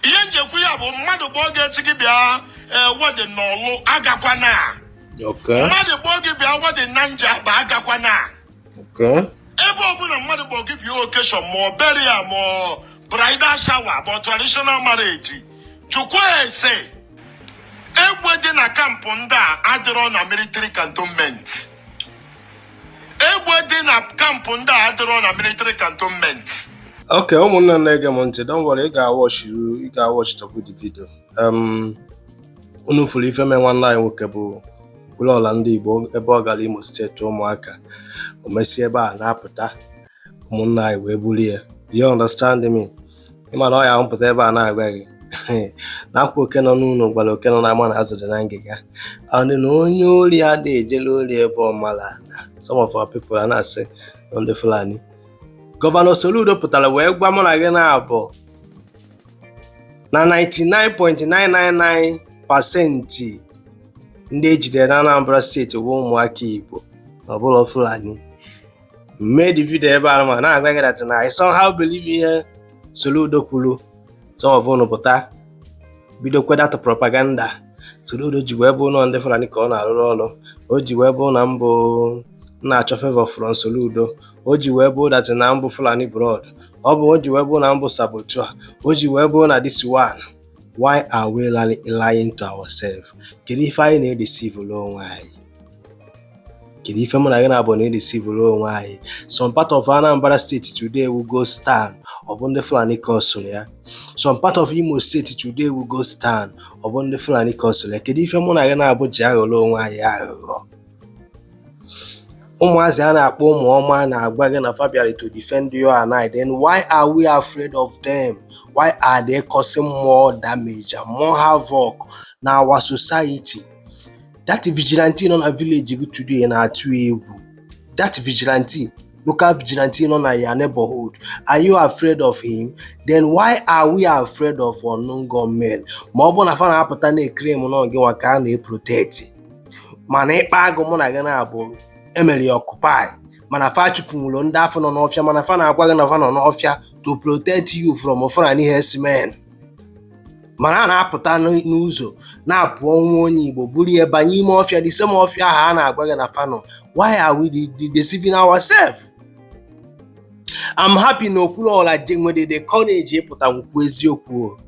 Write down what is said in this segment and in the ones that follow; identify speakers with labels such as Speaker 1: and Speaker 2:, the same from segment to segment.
Speaker 1: ihe m ji ekwu ya bụ mmadụ kpọọ gị echi gị bịa ee wedin na Ọlụ agakwana Okay. mmadụ
Speaker 2: kpọọ gị bịa
Speaker 1: wedin na Njaba agakwana Okay.
Speaker 2: ebe ọbụla
Speaker 1: mmadụ kpọọ gị bịa okeshọn ma ọ beria ma ọ bridal shawa ma ọ traditional marriage chukwu ese egbe dị na kampụ ndị a adịrọ na military cantonment egbe dị na kampụ ndị a adịrọ na military cantonment ok ụmụnne
Speaker 2: na-ege m ntị don worry ị ga-awọchiru ị ga-awọchitọkwu the video um, unu fụrụ ife mee nwanne anyị nwoke bụ Okwuluọra ndị Igbo ebe ọ gara Imo steeti ụmụaka o mesie ebe a na-apụta ụmụnna anyị wee buru ya do you understand me ị ma na ọ ya m pụta ebe a na-agwa gị na ọkwa oke nọ n'ụlọ gwara oke nọ n'ama na azụ dị na ngịga and na onye ori adị ejele ori ebe ọ mala na some of our people a na-asị na ọ ndị Fulani gọvanọ Soludo pụtara wee gwa mụ na gị naabọ na 99.999 pasenti ndị e jidere na Anambra steeti bụ ụmụaka Igbo na ọ bụlọ Fulani mee the video ebe a ma na-agwa gị that na I somehow believe ihe Soludo kwuru some of unu pụta bido kwedatụ propaganda Soludo ji wee bụ na ọ ndị Fulani ka ọ na-arụrụ ọrụ o ji wee bụ na mụ na-achọ favor from Soludo o ji wee bụ that na m bụ Fulani blood ọ bụ o ji wee bụ na m bụ sabotua o ji wee bụ na this one why are we lying to ourselves kedu ife anyị na-edeceive onwe anyị kedu ife mụ na gị naabọ na-edisivuru onwe anyị some part of Anambra steeti today bụ ghost town ọ bụ ndị Fulani kọsụrụ ya some part of Imo steeti today bụ ghost town ọ bụ ndị Fulani kọsụrụ ya kedu ife mụ na gị naabọ ji aghọrọ onwe anyị aghụghọ ụmụazị a na-akpọ ụmụ ọma na-agwa gị na fa bịarị to defend you and I then why are we afraid of them why are they causing more damage and more havoc na our society that vigilante nọ na village gị today na-atụ egwu that vigilante local vigilante nọ na your neighborhood are you afraid of him then why are we afraid of unknown gunmen ma ọ bụ na fa na-apụta na-eclaim na ọ gị nwa ka a na-eproteti mana ikpa agụ mụ na gị naabọ e mere ya ọkụpai mana fa achụpụnwụlọ ndị afụ nọ n'ọfịa mana fa na-agwa gị na fa nọ n'ọfịa to protect you from Fulani herdsmen mana a na-apụta n'ụzọ na-akpụ nwa onye Igbo buru ya banye ime ọfịa the same ọfịa ahụ a na-agwa gị na fa nọ why are we deceiving ourselves? I'm happy na Okwuluọra nwere the courage ịpụta kwuo eziokwu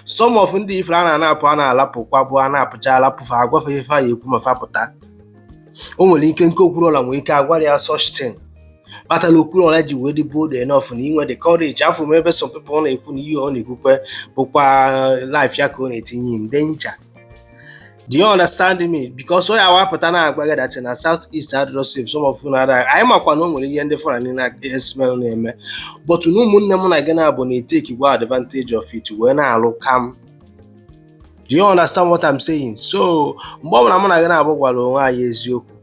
Speaker 2: some of ndị ifere a na-anapụ a na-alapụkwa bụ a na-apụcha alapụ fa a gwa fa ife fa ya-ekwu ma fa pụta o nwere ike nke Okwuluọra nwere ike a gwara ya such kpata na okwuluọra ji wee dị bold enough na inwe the courage afụ m ebe some people na-ekwu na ihe ọ na-ekwukwa bụkwa life ya ka ọ na-etinye in danger do you understand me because onye a pụta na-agwa gị that na south east adịrọ safe some of you na-ada anyị makwa na o nwere ihe ndị fulani herdsmen na-eme but na ụmụnne m na gị naabọ na-etakekwa advantage of it wee na-alụ kam do you understand what I'm saying so mgbe ọ bụla mụ na gị naabọ gwara onwe anyị eziokwu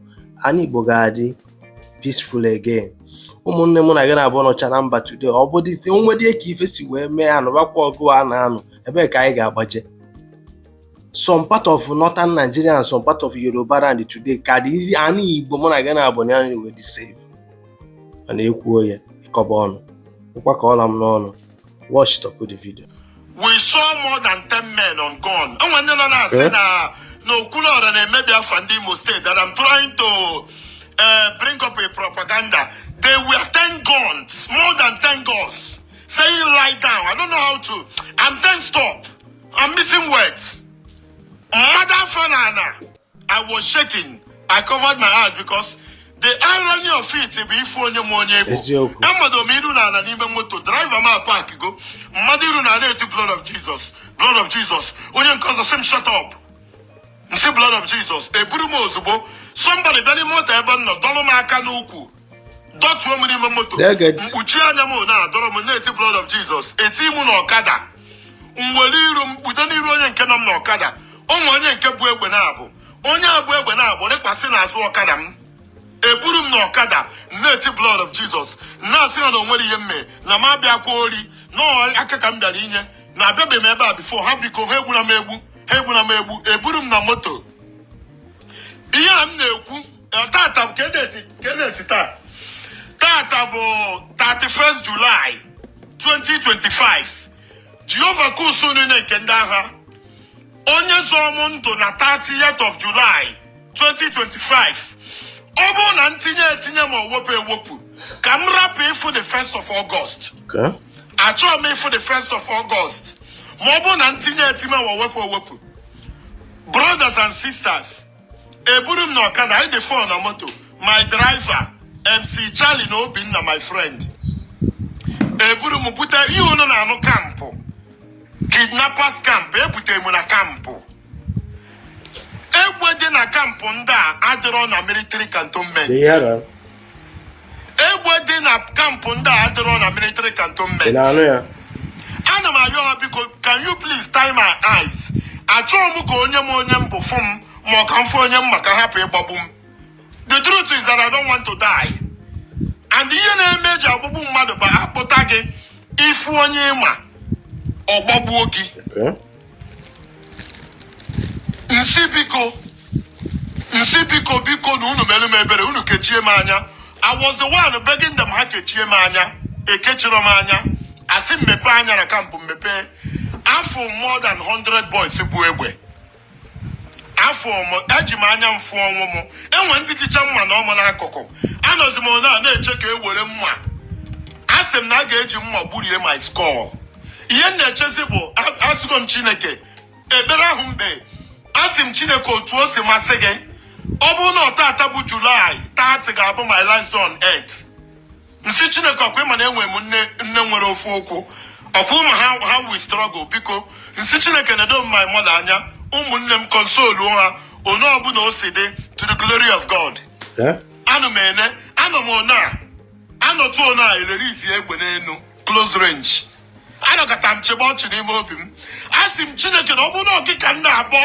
Speaker 2: anị igbo ga-adị peaceful again ụmụnne mụ na gị naabọ nọcha na mba today ọ bụ dịte o nwedị ka ife si wee mee a nụbakwa ọgụ a na-anụ ebee ka anyị ga-agbaje some part of northern Nigeria and some part of Yoruba land today ka dị anị Igbo mụ na gị naabọ na anyị wee dị safe a na-ekwu ya ị kọba ọnụ ụkwa ka ọla m n'ọnụ what stopped the video we
Speaker 1: saw more than 10 men on gun e nwee ndị nọ na-asị na na okwuluọra na-emebi afa ndị imo steeti that I'm trying to uh, bring up a propaganda there were 10 guns more than 10 guns saying lie down I don't know how to I'm tensed up I'm missing words m mado afọ n'ana I was shaking. I covered my eyes because the irony of it bụ ịfụ onye ị ma onye ọ bụ amadoo m iru n'ala n'ime moto driver m apak go m mado iru n'ala na-eti blood of jesus blood of jesus onye nke ọzọ sị m shut up m sị blood of jesus eburu m ozugbo somebody bịa n'ime moto ebe m nọ dọlụ m aka n'ukwu dọtuo m n'ime moto m kpuchie anya m na-adọrọ m na-eti blood of jesus etii m n'ọkada m were iru m kpudo n'iru onye nke nọ m n'ọkada o nwee onye nke bu egbe naabọ onye a bu egbe naabọ rịkwasị n'azụ ọkada m eburu m n'ọkada m na-eti blood of jesus m na-asị ha na o nwere ihe m mee na m abịakwa ori na ọ aka ka m bịara inye na abịabeghị m ebe a before ha biko ha egbuna m egbu eburu m na moto ihe a m na-ekwu tata bụ kee date taa tata bụ 31st July 2025 Jehova nke ụsụụ niile nke ndị agha onye zọọ m ndụ na 30th of July 2025 ọ bụrụ na m tinye etinye ma ọ wepụ ewepụ ka m rapụ ịfụ the 1st of
Speaker 2: August achọghị m ịfụ
Speaker 1: the 1st of August ma ọ bụrụ na m tinye etinye ma ọ wepụ ewepụ brothers and sisters eburu m na ọkada anyị dị four na moto my driver mc charlie na obinna my friend eburu m bute ihe unu na-anụ kampụ kidnappers kampụ ebute m na kampụ egbe dị na kampụ ndị a adịrọ na military cantonment egbe dị na camp ndị a adịrọ na military cantonment ị na-anụ
Speaker 2: ya ana m
Speaker 1: ayọ ha biko can you please tie my eyes achọghị m ka onye ma onye m bụ fụ m ma ọ ka m fụ onye m ma ka a hapụ ịgbagbu m the truth is that I don't want to die and ihe na-eme e ji agbagbu mmadụ bụ a kpụta gị ị fụ onye ị ma ọ gbagbuo gị Okay. m sị biko m sị biko biko na unu melu m ebere unu kechie m anya I was the one begging them ha kechie m anya ekechiri m anya a sị m mepee anya na camp m mepee afụ m more than 100 boys bu egbe afụ m eji m anya m fụ ọnwụ m e nwee ndị jicha mma na ọmụ n'akụkụ anọzi m na na-eche ka e were mma asị m na a ga-eji mma gburie my skull ihe m na-echezi bụ asịgo m chineke ekpere ahụ m kpe asị m chineke otu o si masị gị ọ bụrụ na ọ tata bụ July 30 ga-abụ my last on earth m sị chineke ọ kwa ị ma na enwe m nne nwere ofu ụkwụ ọ kwa ị ma how we struggle biko m sị chineke nedo m my mother anya ụmụnne m console ha otu ọbụla o si dị to the glory of God ana m ene anọ m ọ na-anọtụ ọ na-elerezi egbe n'elu close range anọkata m chịbe ọchị n'ime obi m asị m chineke na ọ bụrụ na ọ gị ka m na-akpọ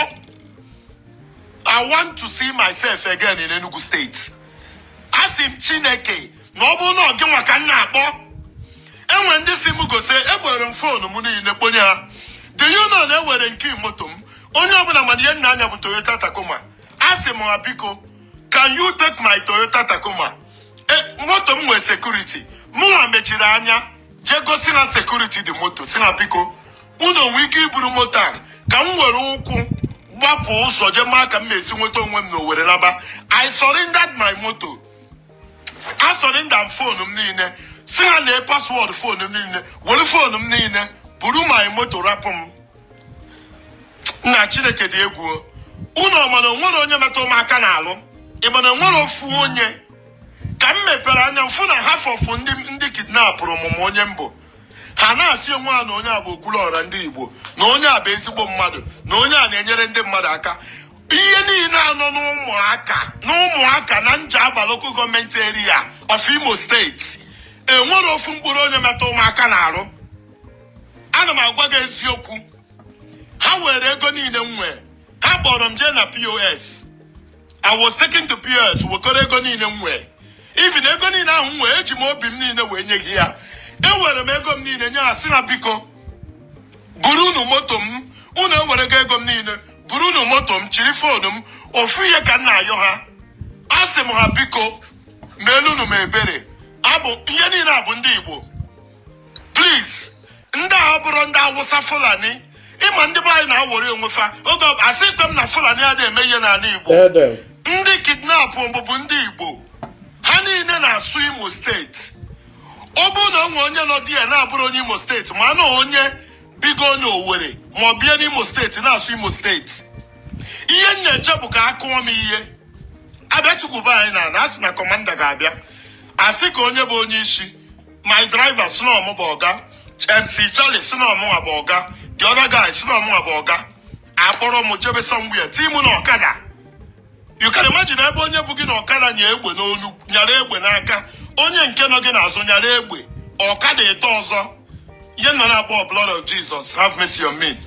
Speaker 1: i want to see myself again in enugu state asị m chineke na ọ bụrụ na ọ gị nwa ka m na-akpọ e nwee ndị sị m gosi ewere m phone m niile kponye ha do you know na e were nke moto m onye ọbụla ma na ihe m na-anya bụ toyota tacoma asị m ha biko can you take my toyota tacoma e, moto m nwee security mụnwa mechiri anya jee gosi na security dị moto sị na biko unu o nwe ike iburu moto a ka m were ụkwụ gbapụ ụzọ jee maa ka m ga-esi nweta onwe m na owerri laba i surrendered my moto i surrendered phone m niile sị ha lee password phone m niile were phone m niile buru my moto rapụ m nna chineke dị egwu unu ọ ma na o nwerọ onye metụ m aka n'alụ ị ma na o nwerọ ofu onye ka m mepere anya m fụ na half of ndị kidnapụrụ mụ ma onye m bụ ha na-asị onwe ha na onye a bụ okwuluọra ndị igbo na onye a bụ ezigbo mmadụ na onye a na-enyere ndị mmadụ aka ihe niile a nọ n'ụmụaka na njaba local government area of imo state e nwerọ ofu mkpụrụ onye metụ m aka n'alụ ana m agwa gị eziokwu ha were ego niile m nwee ha kpọrọ m jee na pos i was taken to pos wekọrọ ego niile m nwee even ego niile ahụ m nwee eji m obi m niile wee nye ha ya ewere m ego m niile nye ha sị na biko buru unu moto m unu ewerego ego m niile buru unu moto m chiri foonu m ofu ihe ka m na-ayọ ha asị m ha biko meelunu m ebere abụ ihe niile a bụ ndị igbo please ndị a abụrọ ndị awụsa fulani ịma ndị be anyị na-awọrị onwe fa oge ọ- asịghịkwa m na fulani anaghị eme ihe n'ala igbo ndị kidnapụ mụ bụ ndị igbo ha niile na-asụ imo steeti ọ bụrụ na o nwe onye nọ there na-abụrọ onye imo steeti ma na onye bigo n'owere ma ọ bịa n'imo steeti na-asụ imo steeti ihe m na-eche bụ ka a kụọ m ihe a bịa tukwuba anyị n'ala a sị na kọmanda ga-abịa a sị kee onye bụ onye isi my driver sị na ọ mụ bụ ọga mc charlie sị na ọ mụnwa bụ ọga the other guy sị na ọ mụnwa bụ ọga akpọrọ m jebe somewhere tii mụ na ọkada you can imagine ebe onye bu gị na ọkada nya egbe n'olu nyara egbe n'aka onye nke nọ gị n'azụ nyara egbe ọkada atọ ọzọ ihe m nọ na-akpọ blood of jesus have mercy on me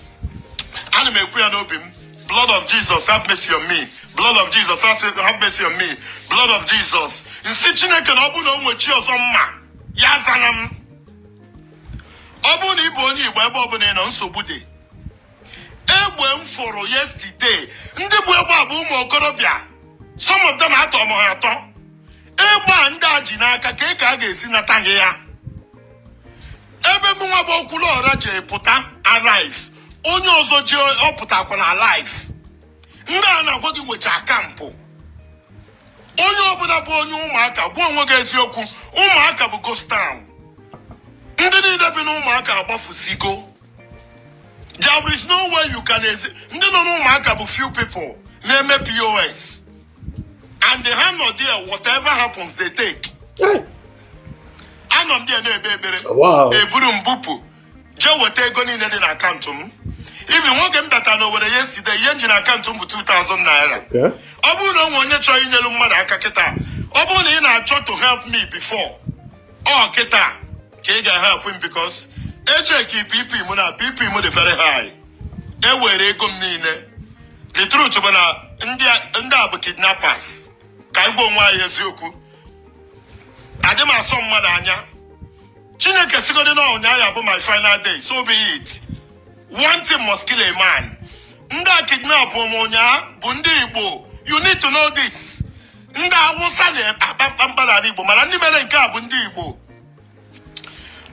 Speaker 1: ana m ekwu ya n'obi m Blood of Jesus, have mercy on me. Blood of Jesus, have mercy on me. Blood of Jesus. M sị Chineke na ọ bụrụ na o nwe chi ọzọ m ma, ya azana m. Ọ bụrụ na ị bụ onye Igbo ebe ọbụla ị nọ nsogbu dị. Egbe m fụrụ yesterday, ndị bu egbe a bụ ụmụ okorobịa. Some of them atọ m ha atọ. Egbe a ndị a ji n'aka kee ka a ga-esi nata ha ya. Ebe mụnwa bụ Okwuluọra ji pụta alive. onye ọzọ jee ọ pụtakwanụ alive ndị a m na-agwa gị nwecha kampụ onye ọbụla bụ onye ụmụaka gwa onwe gị eziokwu ụmụaka bụ ghost town ndị niile bi na ụmụaka agbafusigo there is no way you can ezi ndị nọ n'ụmụaka bụ few people na-eme pos and ha nọ there whatever happens they take anọ m there na-ebe ebere eburu m bupụ jee weta ego niile dị na akaụntụ m even n'oge m bata na owere yesterday ihe m ji na akaụntụ m bụ 2000 naira ọ bụrụ na o nwe onye chọrọ inyelu mmadụ aka kịta ọ bụrụ na ị na-achọ to help me before ọ kịta ka ị ga-help m because echeki bp m na bp m dị very high ewere ego m niile the truth bụ na ndị a bụ kidnappers ka anyị gwa onwe anyị eziokwu adị m asọ mmadụ anya chineke sigodi na ụnyaahụ bụ my final day so be it one thing must kill a man ndị kidnapụrụ m ụnyaa bụ ndị igbo you need to know this ndị awụsa na-akpa mkpamkpa n'ala igbo mana ndị mere nke a bụ ndị igbo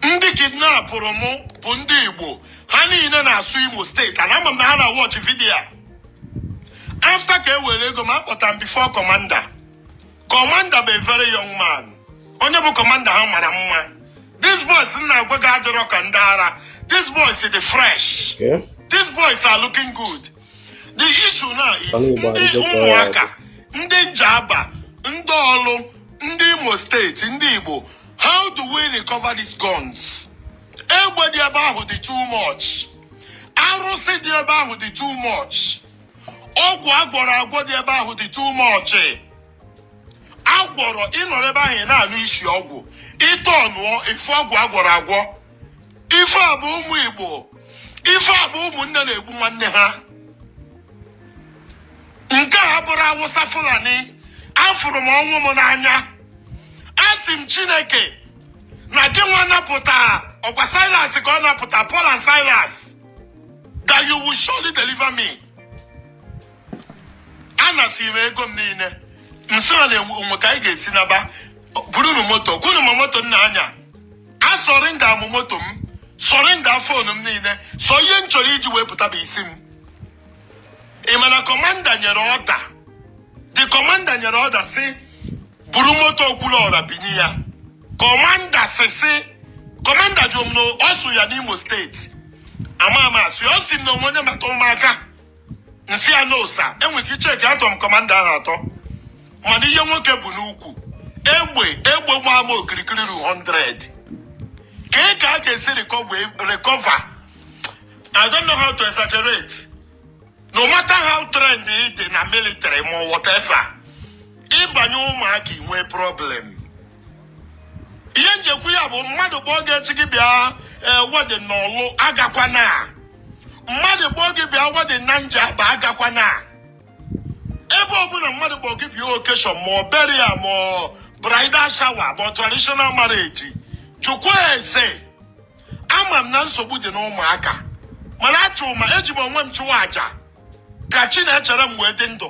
Speaker 1: ndị kidnapụrụ m bụ ndị igbo ha niile na-asụ imo steeti and ama m na ha na-watch video after ka e were ego m akpọta m before commander Commander bụ a very young man. Onye bụ commander ha mara mma. These boys m na-agwa gị adịrọ ka ndị ara. These boys dị fresh. These boys are looking good. The issue now is ụmụaka, ndị Njaba, ndị Ọlụ, ndị Imo steeti, ndị Igbo. How do we recover these guns? Egbe dị ebe ahụ dị too much. Arụsị dị ebe ahụ dị too much. ọgwụ agwọrọ agwọ dị ebe ahụ dị too much agwọrọ ị nọrọ ebe ahụ ị na-anụ isi ọgwụ ịtọ ọnụọ ife ọgwụ agwọrọ agwọ ife a bụ ụmụ igbo ife a bụ ụmụnne na-egbu nwanne ha nke a abụrọ awụsa fulani afụrụ m ọnwụ m n'anya asị m chineke na gị nwa napụta ọkwa silas ka ọ napụta paul and silas that you will surely deliver me anasị m ego m niile nsị ọ na-enwe ka anyị ga-esi naba burunu moto kwunu m moto nna anya a surrender m moto m surrender phone m niile sọ ihe m chọrọ iji wee pụta bụ isi m ị ma na commander nyere order the commander nyere order sị buru moto okwuluọra bunye ya commander sị sị commander jụrụ m na ọ sụ ya n'imo steeti ama ama asị ọ sị na o nwe onye mata ụmụaka nsị ya no sir enwere ike icheki atọ m commander ahụ atọ mana ihe nwoke bu n'ukwu egbe egbe gbaa m okirikiri ru 100 kee ka a ga-esi recover I don't know how to exaggerate no matter how trained ị dị na military ma whatever ị banye ụmụaka i nwee problem ihe m je-ekwu ya bụ mmadụ kpọọ gị echi gị bịa ee wedding n'ọlụ agakwana mmadụ kpọọ gị bịa wedding na njaba agakwana ebe ọbụla mmadụ kpọọ gị bịa occasion ma ọ burial ma ọ bridal shower ma ọ traditional marriage chukwu eze ama m na nsogbu dị n'ụmụaka mana achụ ma eji m onwe m chụwa aja ka chinecherem wee dị ndụ